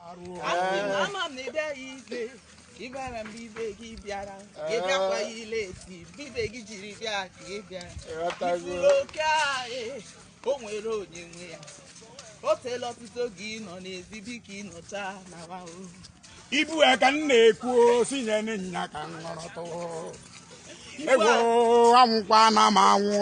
Asị m ama m na ị bịara ibe ka ị bịara mgbe ibe gị bịara ka ị bịakwa ya ile eti mgbe ibe gị jiri bịa ka ị bịara Ịghọtago? Ị fụrụ oke ahụ o nwere onye nwe ya o teela ọtụtụ oge ị nọ n'ezi biko ị nọcha na wa o ibu ya ka m na-ekwu si nye nya ka m ṅụrụtụ ego anwụkwa na m anwụ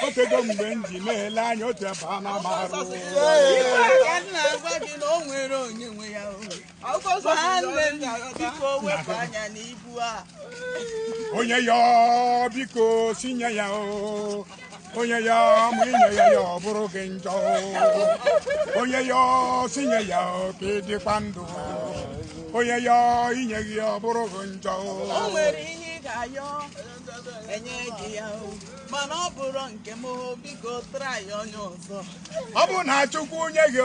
o tego mgbe m ji na-ele anya otu ebe a na-ama arụ onye yọọ biko si nye ya o onye yọọ ma inyeghị ya ọ bụrụ gị njọ onye yọọ si nye ya ka ị dịkwa ndụ onye yọọ inyeghị ya ọ bụrụ gị njọ o nwere ihe ị ga-ayọ enye gị ya o mana ọ bụrụ nke m o, biko try onye ọzọ ọ bụrụ na Chukwu nye gị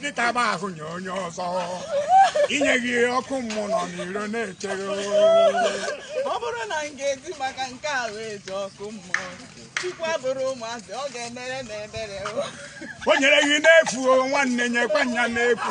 gị taba ahụ nye onye ọzọ inyeghị ọkụ mmụọ nọ n'iro na-echere ọ bụrụ na m ga-eji maka nke a wee jee ọkụ mmụọ Chukwu abụrọ ụmụazị ọ ga-emere m ebere o nyere gị n'efu nwanne nyekwa nya n'efu